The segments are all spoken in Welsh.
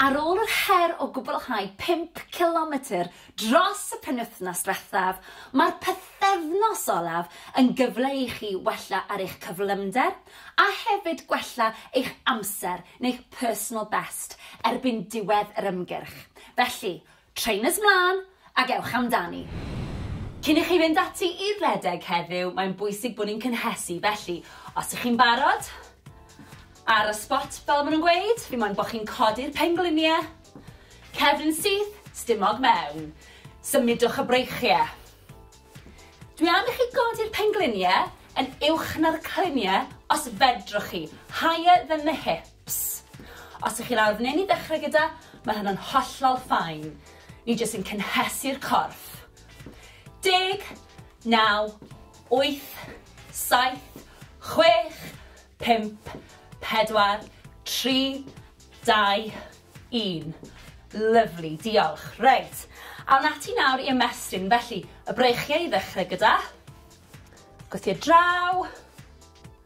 Ar ôl yr her o gwblhau pump cilometr dros y penwythnos diwethaf, mae'r pythefnos olaf yn gyfle i chi wella ar eich cyflymder a hefyd gwella eich amser neu'ch personal best erbyn diwedd yr ymgyrch, felly Trainers 'mlân ac ewch amdani! Cyn i chi fynd ati i redeg heddiw, mae'n bwysig bod ni'n cynhesu, felly os ych chi'n barod, ar y spot fel maen nhw'n gweud, fi moyn bod chi'n codi'r pengliniau, cefn syth, stumog mewn, symudwch y breichiau. Dwi am i chi godi'r pengliniau yn uwch na'r cliniau os fedrwch chi, higher than the hips. Ps. Os ych chi'n awr neu'n i ddechrau gyda, mae hynna'n hollol fine. Ni jyst yn cynhesu'r corff. Deg, naw, wyth, saith, chwech, pump, pedwar, tri, dau, un. Lyfli, diolch. Reit, awn ati nawr i ymestyn. Felly, y breichiau i ddechrau gyda. Gwthio draw.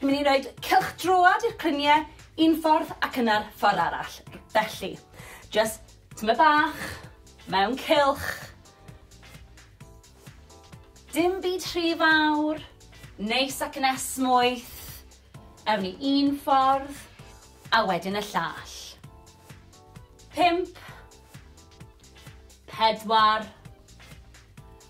Ni'n mynd i roed cylch droad i'r clynie un ffordd ac yna'r ffordd arall. Felly, just tyma bach, mewn cylch. Dim byd rhy fawr, neis ac yn esmwyth. Ewn ni un ffordd, a wedyn y llall. Pimp. Pedwar.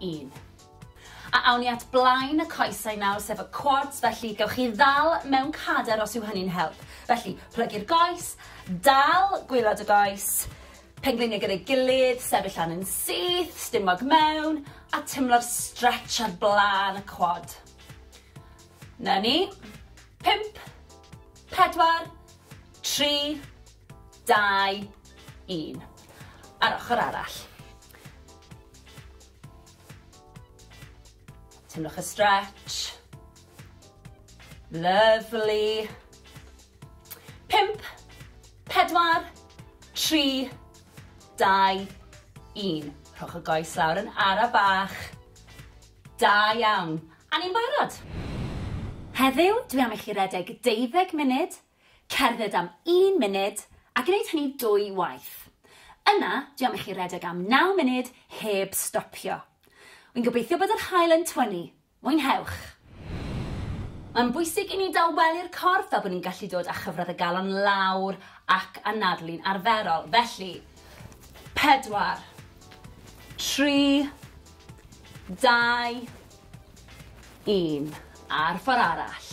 un. A awn ni at blaen y coesau nawr, sef y quads, felly gewch chi ddal mewn cader os yw hynny'n help. Felly, plygu'r goes, dal gwylod y goes, pengliniau gyda'i gilydd, sefyll lan yn syth, stumog mewn, a tymlo'r stretch ar blaen y quad. Na ni. Pimp, pedwar, tri, Dau, un. A'r ochr arall. Teimlwch y stretch. Lovely. Pimp, pedwar, tri, dau, un. Rhowch y goes lawr yn ara bach. Da iawn. A ni'n barod. Heddiw, dwi am i chi redeg deuddeg munud Cerdded am un munud a gwneud hynny dwy waith. Yna, dwi am i chi redeg am naw munud heb stopio. Wi'n gobeithio bod yr haul yn twynnu. Mwynhewch! Mae'n bwysig i ni dawelu'r corff fel bod ni'n gallu dod â chyfradd y galon lawr ac anadlu'n arferol. Felly, pedwar, tri, dau, un. A'r ffordd arall.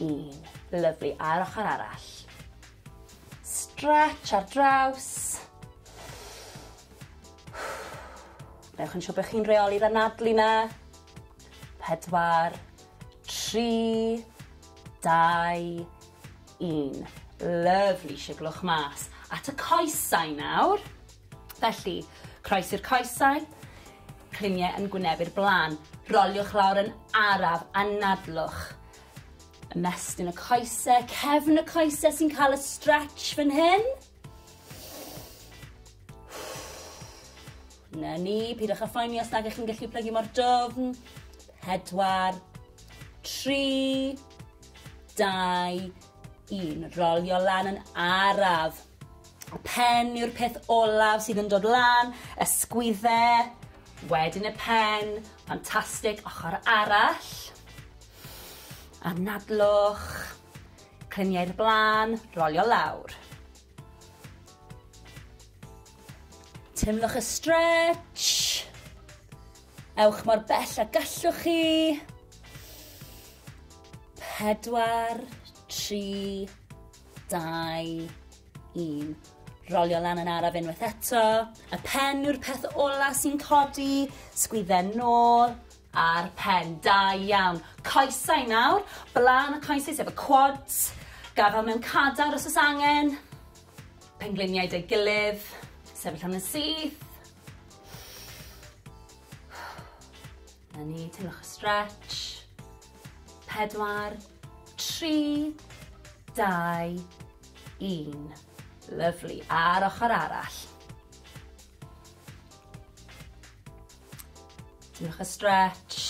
Un. Lyfli. A'r ochr arall. Stretch ar draws. Newch yn siŵr bod chi'n reoli'r anadlu na. Pedwar. Tri. Dau. Un. Lyfli. Siglwch mas. At y coesau nawr. Felly, croesi'r coesau, cliniau yn gwynebu'r blaen. Roliwch lawr yn araf, anadlwch. Ymestyn y coesau, cefn y coesau sy'n cael y stretch fan hyn. Na ni, pidwch â phoeni os nag ych chi'n gallu plygu mor dofn. Pedwar, tri, dau, Yn rolio lan yn araf. Pen yw'r peth olaf sydd yn dod lan, ysgwydde, wedyn y pen, ffantastig, ochr arall. Anadlwch, clyniau'r blaen, rolio lawr. Teimlwch y stretch. Ewch mor bell a gallwch chi. Pedwar, tri, dau, un. Rolio lan yn araf unwaith eto. Y pen yw'r peth ola sy'n codi. Sgwydden nôl a'r pen. Da iawn. Coesau nawr. Blaen y coesau sef y quads. Gafel mewn cadar os oes angen. Pengliniau dy gilydd. Sefyll am yn syth. Na ni, teimlwch y stretch. Pedwar, tri, dau, un. Lyflu. A'r ochr arall. Teimlwch y stretch.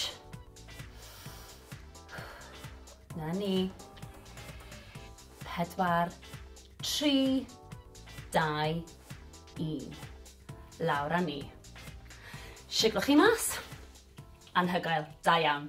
Na ni. Pedwar, Tri, dau, un. Lawr a ni. Siglo chi mas. Anhygoel. Da iawn.